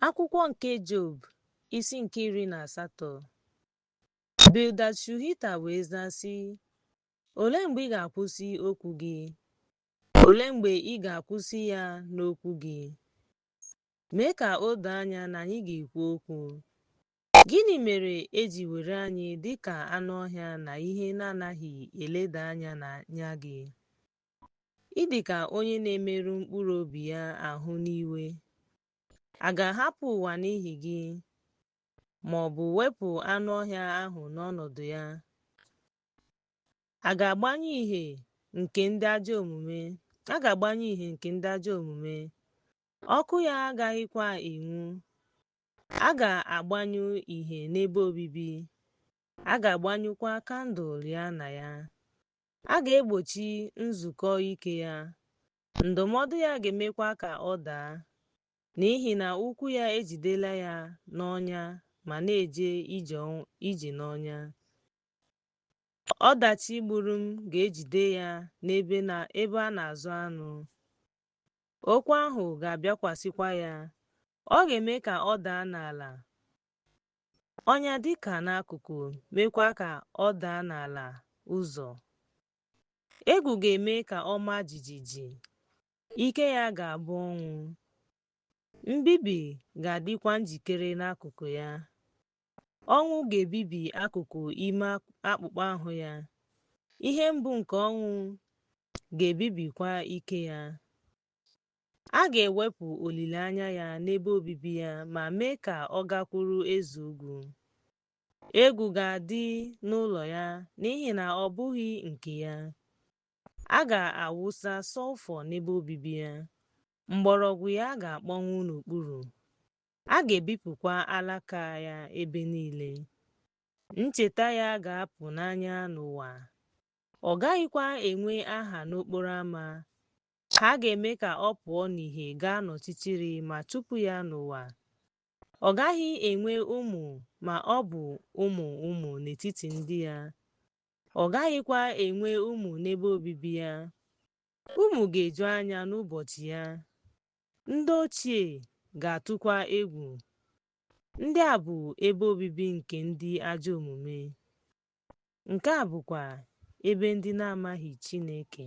Akwụkwọ nke Job, isi nke iri na asatọ. Bildad Shuhita wee zaa sị, Olee mgbe ị ga-akwụsị okwu gị? Olee mgbe ị ga-akwụsị ya n'okwu gị? Mee ka o doo anya na anyị ga-ekwu okwu. Gịnị mere e ji were anyị dị ka anụ ọhịa na ihe na-anaghị eleda anya n'anya gị? Ị dị ka onye na-emerụ mkpụrụ obi ya ahụ n'iwe. A ga-ahapụ ụwa n'ihi gị, ma ọ bụ wepụ anụ ọhịa ahụ n'ọnọdụ ya? A ga-agbanyụ ìhè nke ndị ajọ omume, a ga-agbanyụ ìhè nke ndị ajọ omume, ọkụ ya agaghịkwa enwu. A ga-agbanyụ ìhè n'ebe obibi, a ga-agbanyụkwa kandụl ya na ya. A ga-egbochi nzukọ ike ya, ndụmọdụ ya ga-emekwa ka ọ daa, n'ihi na ụkwụ ya ejidela ya n'ọnya ma na-eje ije n'ọnya. Ọdachi gburu m ga-ejide ya n'ebe a na-azụ anụ. Okwu ahụ ga-abịakwasịkwa ya, ọ ga-eme ka ọ daa n'ala. Ọnya dị ka n'akụkụ, meekwa ka ọ daa n'ala ụzọ. Egwu ga-eme ka ọ maa jijiji, ike ya ga-abụ ọnwụ. Mbibi ga-adịkwa njikere n'akụkụ ya. Ọnwụ ga-ebibi akụkụ ime akpụkpọ ahụ ya, ihe mbụ nke ọnwụ ga-ebibikwa ike ya. a ga-ewepụ olileanya ya n'ebe obibi ya ma mee ka ọ gakwuru eze ugwu. Egwu ga-adị n'ụlọ ya n'ihi na ọ bụghị nke ya. A ga-awụsa sọlfọ n'ebe obibi ya, mgbọrọgwụ ya ga-akpọnwụ n'okpuru, a ga-ebipụkwa alaka ya ebe niile. Ncheta ya ga-apụ n'anya n'ụwa, ọ gaghịkwa enwe aha n'okporo ama. Ha ga-eme ka ọ pụọ n'ìhè gaa n'ọchịchịrị ma chụpụ ya n'ụwa. Ọ gaghị enwe ụmụ ma ọ bụ ụmụ ụmụ n'etiti ndị ya. Ọ gaghịkwa enwe ụmụ n'ebe obibi ya. Ụmụ ga-eju anya n'ụbọchị ya. Ndị ochie ga-atụkwa egwu. Ndị a bụ ebe obibi nke ndị ajọ omume. Nke a bụkwa ebe ndị na-amaghị Chineke.